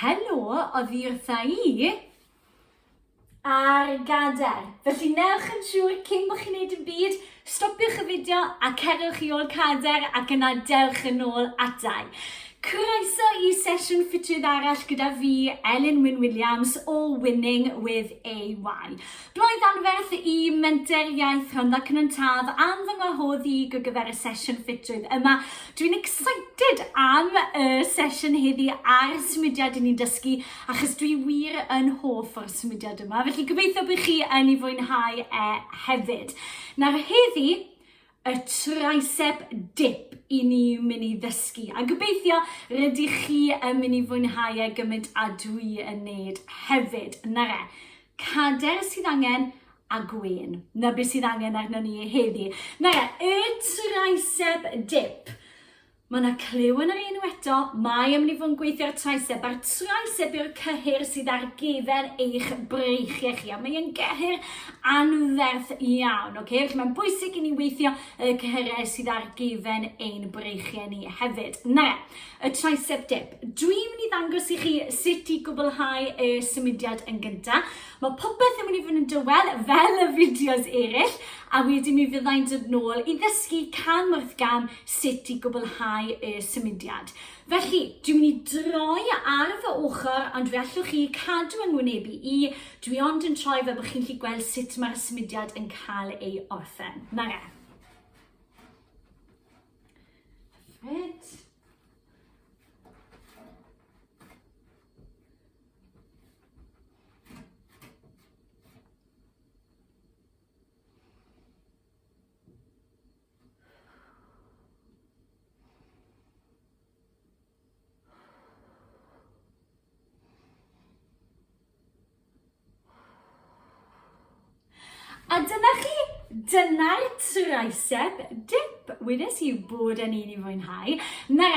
Helo, oddi wrtha i ar gadair. Felly newch yn siŵr cyn bod chi'n neud yn byd, stopiwch y fideo a cerwch i ôl cadair ac yna dewch yn ôl adau. Croeso i sesiwn ffitrwydd arall gyda fi, Elin Wyn Williams o Winning with AY. Roedd anferth i Menter Iaith Rhondda Cynon Taf am fy ngwahodd i ar gyfer y sesiwn ffitrwydd yma. Dwi'n excited am y sesiwn heddi a'r symudiad i ni'n dysgu achos dwi wir yn hoff o'r symudiad yma, felly gobeithio bod chi yn ei fwynhau e hefyd. Nawr heddi, y tricep dip i ni mynd i ddysgu. A gobeithio rydych chi yn mynd i fwynhau e gymaint a dwi yn neud hefyd. Na re, cader sydd angen a gwen. Na beth sydd angen arno ni heddi. Na re, y tricep dip. Mae 'na clyw yn yr enw eto, mae amlifon gweithio'r traeseb a'r traeseb yw'r cyhyr sydd ar gyfer eich breichiau chi a mae e'n gyhyr anferth iawn. Okay? Felly mae'n bwysig i ni weithio y cyhyrau sydd ar gyfer ein breichiau ni hefyd. Na, y tricep dip. Dwi'n mynd i ddangos i chi sut i gwblhau y symudiad yn gyntaf. Mae popeth yn mynd i fod yn dywel fel y fideos eraill a wedyn mi fyddai'n dod nôl i ddysgu cam wrth gam sut i gwblhau y symudiad. Felly, dwi'n mynd i droi ar fy ochr, ond fe allwch chi cadw yng ngwynebu i, dwi ond yn troi fel bod chi'n lli gweld sut mae'r symudiad yn cael ei orffen. Na re. Hyfryd. A dyna chi, dyna'r tricep dip. Wnes i bod yn un i fwynhau. Na,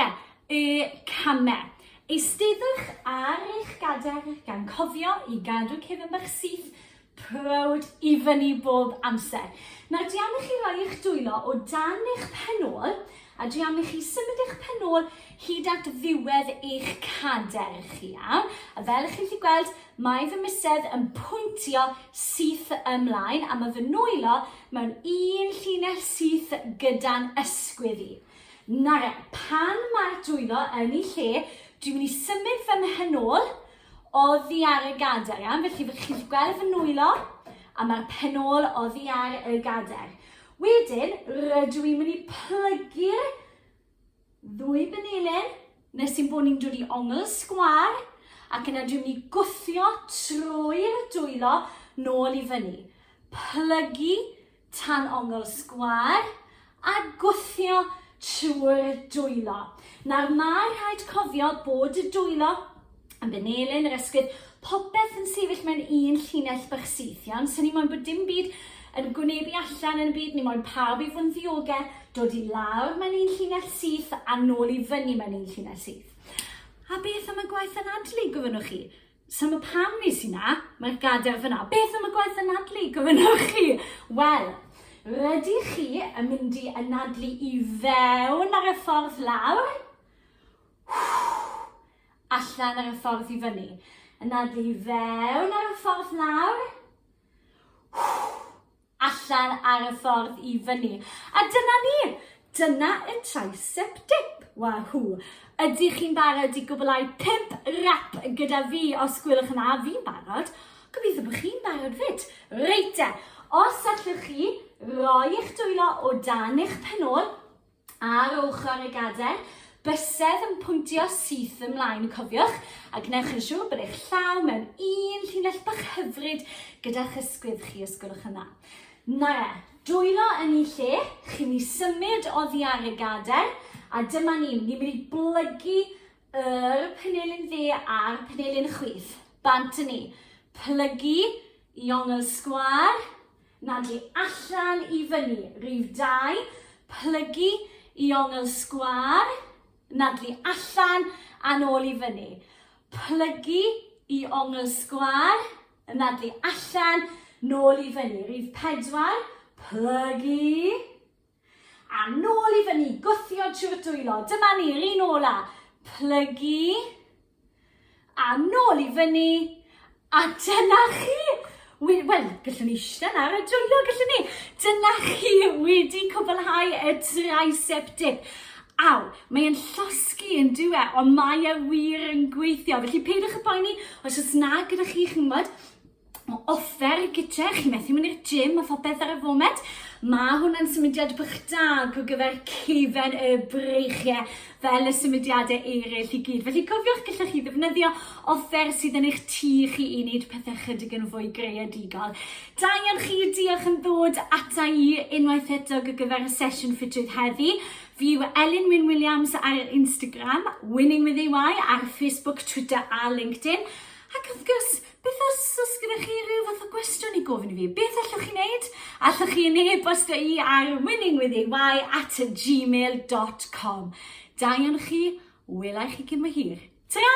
y camau. Eisteddwch ar eich gadair gan cofio i gadw cefn bach syth Proud i fyny bob amser. Nawr dwi am i chi roi eich dwylo o dan eich penôl a dwi am i chi symud eich penôl hyd at ddiwedd eich cader chi iawn. A fel chi'n chi gweld, mae fy misedd yn pwyntio syth ymlaen a mae fy nwylo mewn un llinell syth gyda'n ysgwydd i. Nawr e, pan mae'r dwylo yn ei lle, dwi'n mynd i symud fy mhenôl Oddi ar y gadair, iawn? Felly fe chi'n gweld fy nwylo a mae'r penôl oddi ar y gadair. Wedyn, rydw i'n mynd i plygu'r ddwy benelin nes i'n bod ni'n dod i ongl sgwar ac yna dwi'n mynd i gwthio trwy'r dwylo nôl i fyny. Plygu tan ongl sgwâr a gwthio trwy'r dwylo. Nawr mae rhaid cofio bod y dwylo yn benelyn yr esgid, popeth yn sefyll mewn un llinell bach syth, iawn? So ni moyn bod dim byd yn gwynebu allan yn y byd, ni moyn pawb i fod yn ddiogel, dod i lawr mewn un llinell syth a nôl i fyny mewn un llinell syth. A beth am y gwaith anadlu, gofynnwch chi? So mae pam nes i na, mae'r gadair fyna. Beth am y gwaith anadlu, gofynnwch chi? Wel, rydych chi yn mynd i anadlu i fewn ar y ffordd lawr, allan ar y ffordd i fyny. Anadlu i fewn ar y ffordd lawr, allan ar y ffordd i fyny. A dyna ni! Dyna y tricep dip! Wahw! Ydych chi'n barod i gwblhau pump rap gyda fi? Os gwelwch yn dda, fi'n barod. Gobeithio bod chi'n barod fyd. Reit te, os allwch chi roi eich dwylo o dan eich penôl, Ar ochr y gadair, bysedd yn pwyntio syth ymlaen y cofiwch, a gwnewch yn siŵr bod eich llaw mewn un llinell bach hyfryd gyda'ch ysgwydd chi os gwelwch yn dda. Nara, dwylo yn i lle, chi'n i symud oddi ar y gadair, a dyma ni, ni'n mynd i blygu yr penelin dde a'r penelin chwith. Bant yn ni. Plygu i ongl sgwar, na dwi allan i fyny rif dau, plygu i ongl sgwâr, na dwi allan a'n ôl i fyny, plygu i ongl sgwâr, na dwi allan, nôl i fyny, rif pedwar, plygu, A nôl i fyny, gwthio trwy'r dwylo. Dyma ni'r un ola. Plygu. A nôl i fyny. A dyna chi! Wel, gallwn ni eistedd ar y dwylo, gallwn ni. Dyna chi wedi cwblhau y tricep dip. Aw, mae'n llosgi yn diwe, ond mae e wir yn gweithio. Felly peidiwch y poeni, os oes na gyda chi, chi'n gwybod, Mae offer y gytre, chi'n methu mynd i'r gym a phopeth ar y foment. Mae hwnna'n symudiad bach da go gyfer cefen y breichiau fel y symudiadau eraill i gyd. Felly cofiwch gallwch chi ddefnyddio offer sydd yn eich tu chi i wneud pethau chydig yn fwy greadigol. Da iawn chi, diolch yn ddod ata i unwaith eto go gyfer y sesiwn ffitrwydd heddi. Fi yw Elin Wyn Williams ar Instagram, Winning with EY ar Facebook, Twitter a LinkedIn. Ac wrth gwrs, Beth os os gyda chi rhyw fath o gwestiwn i gofyn i fi, beth allwch chi wneud? Allwch chi yn e-bostio i ar winningwithey@gmail.com. Da iawn chi, wela i chi cyn bo hir. Ta-ra!